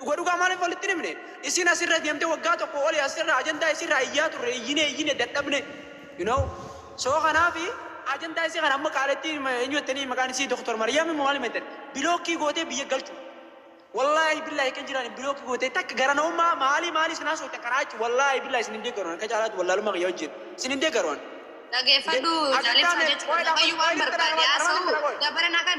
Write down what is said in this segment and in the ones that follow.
Dhuga dhugaa maalif walitti hin himne? Isiin as irra deemte waggaa tokko oli as irra ajandaa isii irraa iyyaa turre iyyine iyyine dadhabne you know so kanaafi ajandaa isii kana amma qaalittii eenyu jettanii maqaan isii Doktar Mariyami moo maalima jettan bilookkii gootee biyya galchu wallaahi billaahi kan jiraan bilookkii gootee takka gara namummaa maalii maalii isin haasoftan kanaa jechu wallaahi billaahi isin hin deeggaru akka caalaatti wallaalummaa kiyya wajjin isin hin deeggaru ani. Dhageeffadhu Ajandaa jaalibsaa mee jechuudha. qoyidhaa Waaqayyo waan qoyidhaa barbaade qoyidhaa haasa'u qoyidhaa qoyidhaa. dabarana kan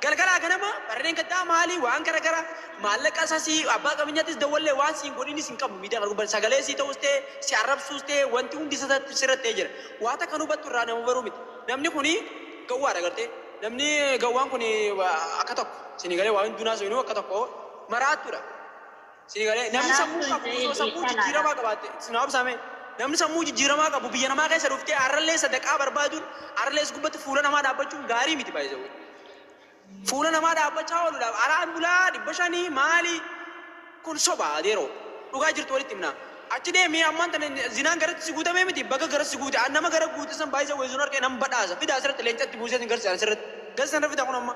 Galgalaa ganama barreen gaddaa maali waan gara gara maallaqa isa si abbaa qabeenyattis dawwallee waan siin godhinis hin qabu miidhaa arguu sagalee sii ta'us ta'e si arrabsuus ta'e wanti hundi isa sirratti ta'e jira waa takka nu hubattu irraa nama baruu miti namni kuni gawwaa dha gartee namni gawwaan kuni akka tokko sini galee waa hunduu hin haasawinuu akka tokko maraattu dha. Sii galee namni Karaaf sammuu qabu tolcha'ee osoo sammuu dhiisaa laata? jijjiiramaa qabaatte isin haabsaame namni sammuu jijjiiramaa qabu biyya namaa keessa dhuftee har'allee sadaqaa barbaaduun har'allee is gubbatti fuula namaa dhaabbachuun gaarii miti baay'isawwan. Fuula namaa dhaabbachaa ooludha araan bulaa dhibba shanii maali kun soba adeeroo dhugaa jirtu walitti himnaa. Achi deemee ammaan tana zinaan garatti si guutamee miti baga gara si guute an nama gara guute san baay'isa weessuun harkee nan badhaasa fidaa asirratti leencatti buusee sin garsiisa asirratti gasi sana fidaa kun amma.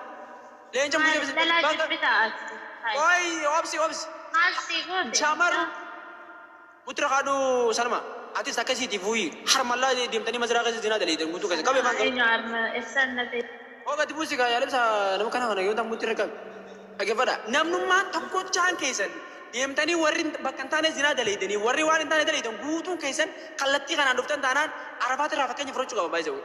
Leenca Maal mucaa intalaa bakka jibbita ati? Hay. Qoy obsi obsi. Maal sii goote? Shamarru Mucaa. mutra kadhu salma atis akkasiti fuyi harma la demtani mazra kessa zina dalaydan gutu kessa qabe Salma fan eenyu harma essan na ta'e? Hoo gadi busi kaa yalibsa nama kana kana yonta mutra qabe dhagefadha namnumma tokkochaan keessan demtani warri bakka hin taane zina dalaydani warri waan hin taane dalaydan guutuun keessan kallattii kanaan dhuftan taanaan arafaatirraa fakkeenya fudhachuu qaba by the way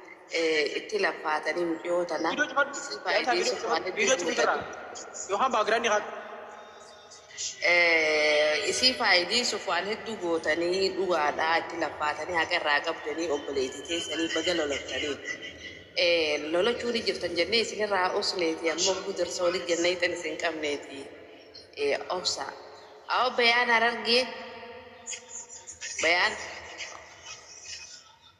itti laffaatanii muciyoo tana Video cufadhu. isii Yaa isaa video faayideessuuf cufadhu. malee Video cufi beekuu jirraa. hedduu Yookaan background haa. Eh, isii faayideessuuf waan hedduu gootanii dhugaadhaa itti laffaatanii haqa irraa qabdanii obboleetii teessanii baga lolattanii. Eh, lolachuu ni jirtan jennee isinirraa usneeti ammoo gudarsa olii jennee tan isin qabneeti. Eh, obsa. Awo bayaan harargee bayaan.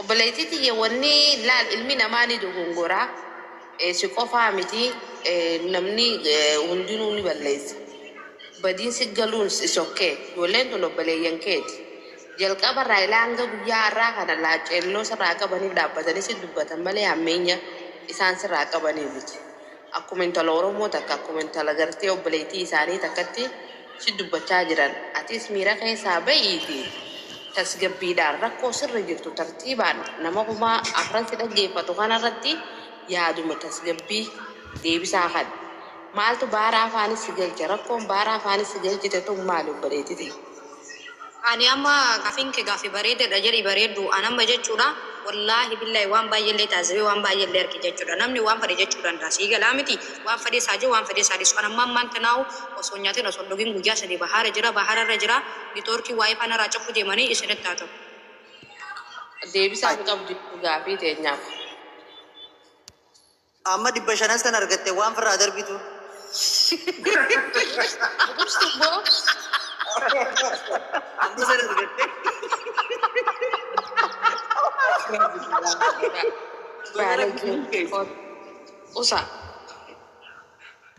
Obboleettii tiyya wanni laal ilmi namaa ni dogongora si qofaa miti namni hundinuu ni balleessa badiin si galuuns is ok ijoolleen tun obboleeyyan keeti jalqaba irraa ilaa hanga guyyaa arraa kana laacceelloo sirraa qabaniif dhaabbatanii si dubbatan malee hammeenya isaan sirraa qabaniif miti Akkuma intala oromoo takka akkuma intala gartee obboleeytii isaanii takkatti si dubbachaa jiran atiis miira keessaa ba'iitii tasgabbiidhaan rakkoo sirra jirtu tartiibaan nama kuma afran si dhaggeeffatu kana irratti yaaduma tasgabbii deebisaa kan maaltu baara afaanis si galche rakkoon baara afaanis si galchite tun maali obboleeyti tiyya. Ani amma gaafiin kee gaafi bareedadha jedhi bareeddu an amma jechuudha wallaahi billaahi waan baay'ellee taazibee waan baay'ellee arge jechuudha namni waan fedhe jechuu danda'a sii galaa miti waan fedhees haa je'u waan fedhees haa dhiisu an amma ammaan tanaahu osoo hin nyaatin osoo hin dhugin guyyaa sadii bahaara jira bahaara irra jira nitoorkii waayifaa naraa cufuu deemanii isinitti haa ta'u. Deebisaa hin qabdu jechuun gaafii teenyaaf. Amma dhibba shanas kan argatte waan firraa darbitu. Dursi boo. Amma sana argatte. Baalagee. Usa.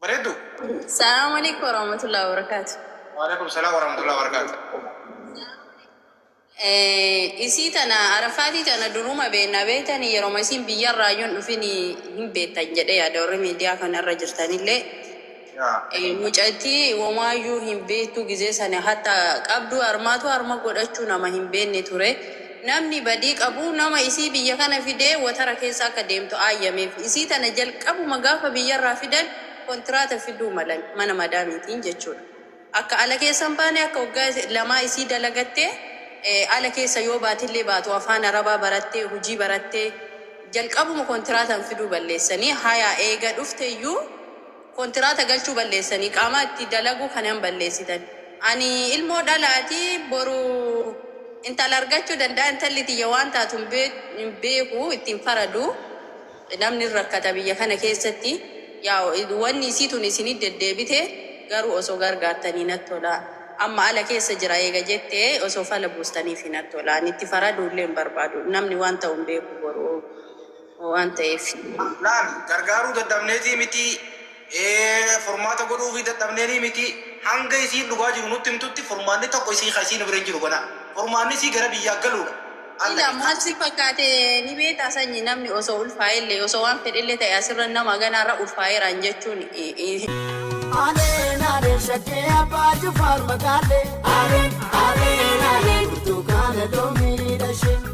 Bareeddu. Salaam alaikum warahmatullahi wabarakatuh. Waalaikum salaam warahmatullahi wabarakatuh. Eh, isii tana arafaatii tana duruma beekna beektan yeroma isiin biyyarraa yoon dhufin hin beektan jedhee yaada warri miidiyaa kanarra jirtanillee Yaa. Eh, mucattii womaayyuu hin beektu gizee sana hatta qabdu harmaatu harma godhachuu nama hin beekne ture Namni badii qabu nama isii biyya kana fidee watara keessa akka deemtu aayyameef. Isii tana jalqabuma gaafa biyyarraa fidan kontiraata fiduu malan mana madaamiitiin jechuudha. Akka ala keessa hin baane akka waggaa lamaa isii dalagattee ala keessa yoo baatillee baatu afaan arabaa barattee hujii barattee jalqabuma kontiraatan fiduu balleessanii hayaa eega dhufteyyuu Kontiraata galchuu balleessanii qaamaa itti dalaguu kanan balleessitan ani ilmoo dhalaati boru intala argachuu danda'a intalli tiyya waan taatu hin beeku itti hin faradu namni hin rakkata biyya kana keessatti yaa wanni isii tun isinit deddeebite garuu osoo gargaartanii natti tola amma ala keessa jira eega jette osoo fala buustaniifi natti tola ani itti faraduullee hin barbaadu namni waan ta'u hin beeku boru waan ta'eef. Laal, gargaaruu dadhabneetii miti, ee, furmaata godhuufii dadhabneenii miti, hanga isiin dhugaa jiru nutti himtutti furmaanni tokko isii ka isiin bira hin jiru gonaa. Furmaanni isii gara biyyaa galuu dha. Al Sila Naqi. maal si fakkaate ni beektaa sanyi namni osoo ulfaa'e illee osoo waan fedhe illee ta'e asirra nama aganaa irra ulfaa'eeraan jechuun hin Aleen aleen shaggee abbaa jifaar magaalee. Aleen aleen aleen burtukaana loomii dhashee.